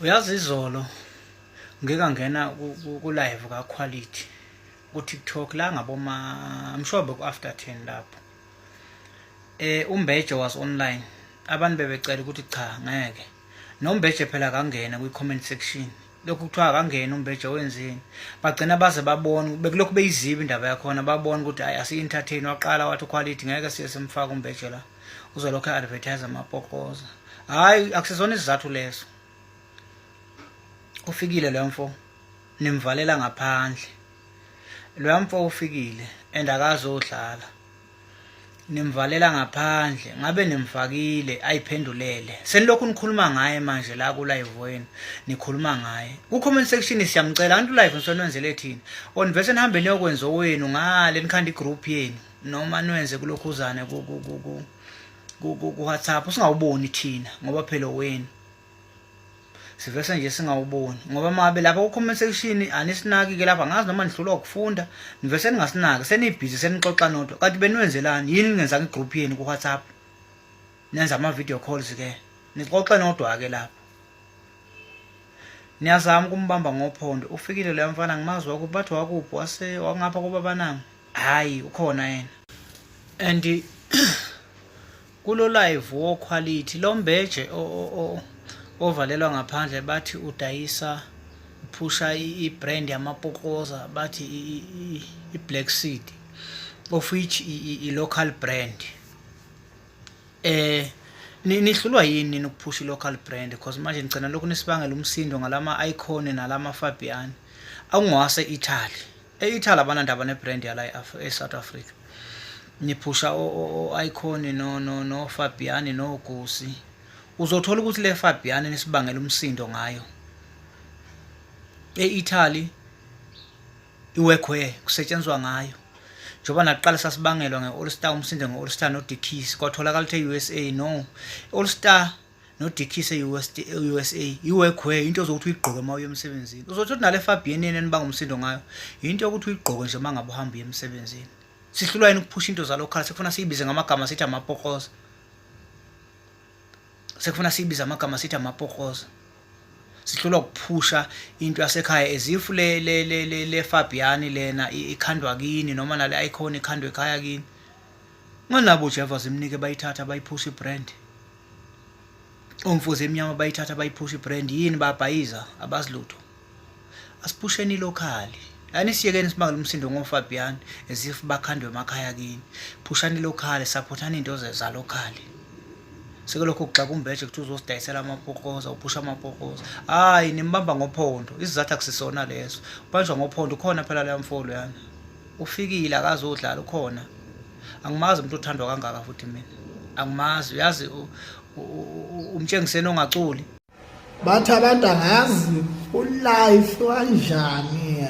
uyazi izolo ngike ngena ku live ka quality ku TikTok la ngaboma I'm sure boku after 10 lapho eh umbeje was online abantu bebecela ukuthi cha ngeke nombeje phela kangena kwi comment section lokhu kuthiwa akangena umbeje wenzeni bagcina baze babona bekulokhu beyiziba indaba yakhona babona ukuthi hayi asi-entertain waqala wathi uquality ngeke siye simfake umbeje la uzolokhu advertise amapokoza hayi akusizona isizathu leso ufikile lo mfo nimvalela ngaphandle lo mfo ufikile and akazodlala nimvalela ngaphandle ngabe nimfakile ayiphendulele senilokhu nikhuluma ngaye manje la ku live wenu nikhuluma ngaye ku comment section siyamcela antu live ngisonwenzele thina onivese nihambe niyokwenza owenu ngale nikhanda igroup yenu noma nwenze kulokhuzane ku-whatsapp singawuboni thina ngoba phela wenu sivese nje singawuboni ngoba mabe lapha ku-comment section anisinaki-ke lapha ngazi noma nihlulwa ukufunda nivese ningasinaki senibhizi senixoxa nodwa kanti beniwenzelani yini ningenzanga i-group yenu ku-whatsapp nenza ama-video calls-ke nixoxe nodwa-ke lapha niyazama ukumbamba ngophondo ufikile loya mfana ngimazi wakuthi bathi wakuphi wase wangapha kobabananga hayi ukhona yena and kulo live wo quality lo mbeje ovalelwa ngaphandle bathi udayisa phusha i-brand yamapokoza bathi i-black seed of which i-local brand eh nihlulwa yini nokuphusha i-local brand because manje ngicela lokhu nisibangela umsindo ngalama-icon nalama-fabian akungwase-italy EItaly abanandaba nebrand yala eSouth Africa. Niphusha o-Icon no no no Fabiani no Gusi. Uzothola ukuthi le Fabiani nisibangela umsindo ngayo. EItaly iwekwe kusetshenzwa ngayo. njengoba nakuqala sasibangelwa nge-all star umsindo nge-all star no-dkis kwatholakala ukuthi e-usa no i-all star nodikhise i-usa iwegwe into ozokuthi uyigqoke uma uye emsebenzini uzothi uthi nale fabn yeneni bangumsindo ngayo yinto yokuthi uyigqoke nje uma ngabe uhamba uye emsebenzini sihlulwa yini ukuphusha into zalo khala sekufuna siyibize ngamagama sithi amapokoza sekufuna siyibize amagama sithi amapokoza sihlulwa ukuphusha into yasekhaya ezifu le le le le, le Fabiani lena ikhandwa kini noma nale icon ikhandwe ekhaya kini nganabo Jehova zimnike bayithatha bayiphusha ibrand omfuzi emnyama bayithatha bayiphusha ibrand yini babhayiza abazilutho asiphusheni ilokhali yani siyekeni simangele umsindo ngofabian as if bakhandwe emakhaya kini phushani ilokhali saphothani into zalokhali sike lokho kuxaka umbeje kuthi uzosidayisela amapokoza uphusha amapokoza hayi nimbamba ngophondo isizathu akusisona leso ubanjwa ngophondo ukhona phela leya mfolo yana ufikile akazodlala ukhona angimazi umuntu othandwa kangaka futhi mina angimazi uyazi umtshengiseni ongaculi bathi abantu angazi ulife wanjani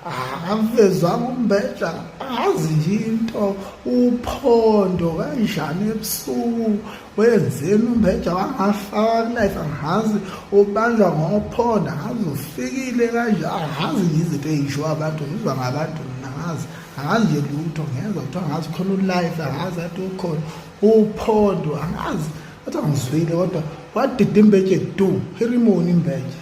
akavezwa ngumbeja angazi nje into uphondo kanjani ebusuku wenzeni umbeja wangafaka kulife angazi ubanjwa ngophondo angazi ufikile kanjani angazi nje izinto eyishiwo abantu ngizwa ngabantu mina angazi angazi nje lutho ngezwa kuthiwa angazi khona ulife angazi athi ukhona uphondo angazi kodwa ngizwile kodwa wadida imbetshe du herimoni imbetshe